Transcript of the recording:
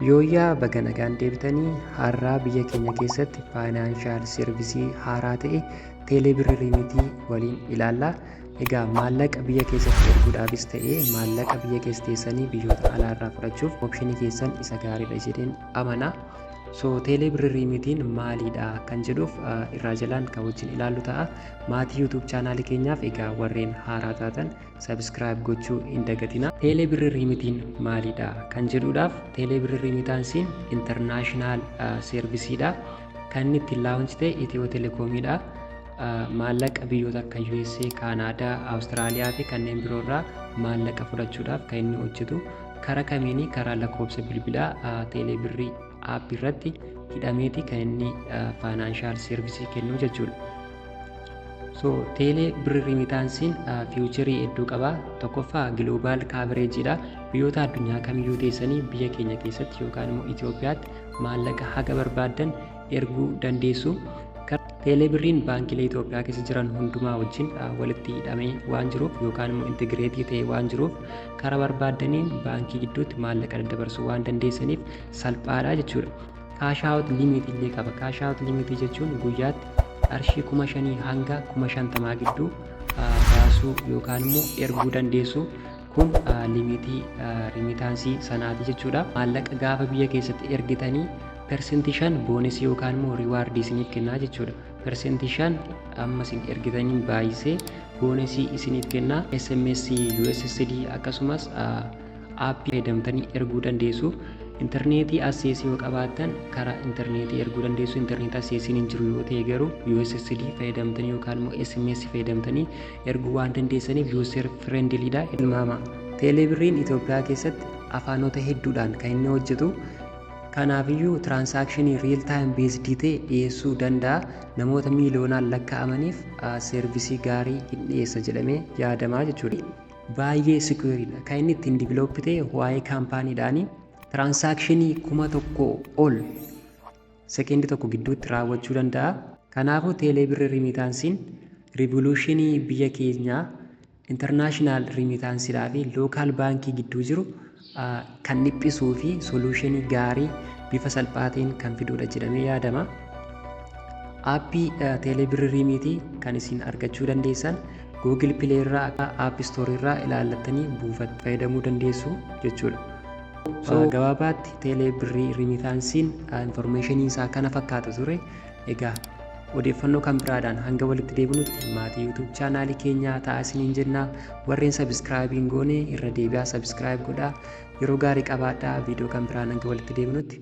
Yooyyaa baga nagaan deebitanii har'aa biyya keenya keessatti faayinaanshaal servisii haaraa ta'e teeleebirri riimitii waliin ilaalla. Egaa maallaqa biyya keessatti erguudhaafis ta'e maallaqa biyya keessa teessanii biyyoota alaarraa fudhachuuf opshinii keessan isa gaariidha jedheen amana. So teeleebirri riimitiin maaliidha kan jedhuuf irraa jalaan kan wajjin ilaallu ta'a. Maatii YouTube chaanaalii keenyaaf egaa warreen haaraa taatan Subscribe gochuu hin dagatina. Teelee birri riimitiin maalidha kan jedhuudhaaf teelee birri riimitaan siin international servisiidha. Kan inni ittiin laawunchi ta'e Itiyoo Telekoomiidha. Maallaqa biyyoota akka USA, Kaanaadaa, Awustiraaliyaa fi kanneen biroo irraa maallaqa fudhachuudhaaf kan inni hojjetu karaa kamiinii karaa lakkoofsa bilbilaa teelee birri app irratti hidhameeti kan inni faayinaanshaal servisii kennu jechuudha. So teelee birri rimitaansiin fiiwucherii hedduu qaba. Tokkoffaa giloobaal kaavereejiidha. Biyyoota addunyaa kamiyyuu teessanii biyya keenya keessatti yookaan immoo Itoophiyaatti maallaqa haga barbaaddan erguu dandeessu. Teelee birriin baankilee Itoophiyaa keessa jiran hundumaa wajjin walitti hidhamee waan jiruuf yookaan immoo intigireetii ta'ee waan jiruuf karaa barbaaddaniin baankii gidduutti maallaqa daddabarsuu waan dandeessaniif salphaadha jechuudha. Cash out limit illee qaba. Cash out limit jechuun guyyaatti qarshii kuma shanii hanga kuma shantamaa gidduu baasuu yookaan immoo erguu dandeessu. Kun limitii rimitaansii sanaati jechuudha. Maallaqa gaafa biyya keessatti ergitanii persentii shan boonisii yookaan immoo riwaardii isiniif kennaa jechuudha. Persentii shan amma isin ergitaniin baay'isee boonisii isiniif kennaa SMS USSD akkasumas Aappii fayyadamtanii erguu dandeessu. Intarneetii asseesii yoo qabaattan karaa intarneetii erguu dandeessu. Intarneetii asseesiin hin jiru yoo ta'e garuu USSD fayyadamtanii yookaan immoo SMS fayyadamtanii erguu waan dandeessaniif user friendly dha. Tilmaama. Teeleebirriin Itoophiyaa keessatti afaanota hedduudhaan kan inni hojjetu. Kanaafiyyuu tiraansaakshinii riil taayim beesdii ta'e dhiyeessuu danda'a. Namoota miiliyoonaan lakkaa'amaniif seervisii gaarii hin dhiyeessa jedhamee yaadamaa jechuudha. baay'ee secure dha. Kan inni ittiin develop ta'e waa'ee kaampaanii dhaani. Transaction kuma tokko ol sekendi tokko gidduutti raawwachuu danda'a. Kanaafuu teelee birri rimiitaansiin rivoluushinii biyya keenyaa international rimiitaansidhaa fi lookaal baankii gidduu jiru kan dhiphisuu fi soluushinii gaarii bifa salphaa ta'een kan fiduudha jedhamee yaadama. Aappii teeleebirri riimiitii kan isin argachuu dandeessan Google Play irraa akka App Store irraa ilaallattanii buufattanii fayyadamuu dandeessu jechuudha. So, gabaabaatti teelee birrii riimitaansiin informeeshiniin isaa kana fakkaata ture. Egaa odeeffannoo kan biraadhaan hanga walitti deebinutti maatii YouTube chaanaalii keenyaa ta'aa isiniin jennaa warreen subscribe hin goone irra deebi'aa subscribe godhaa yeroo gaarii qabaadhaa viidiyoo kan biraan hanga walitti deebinutti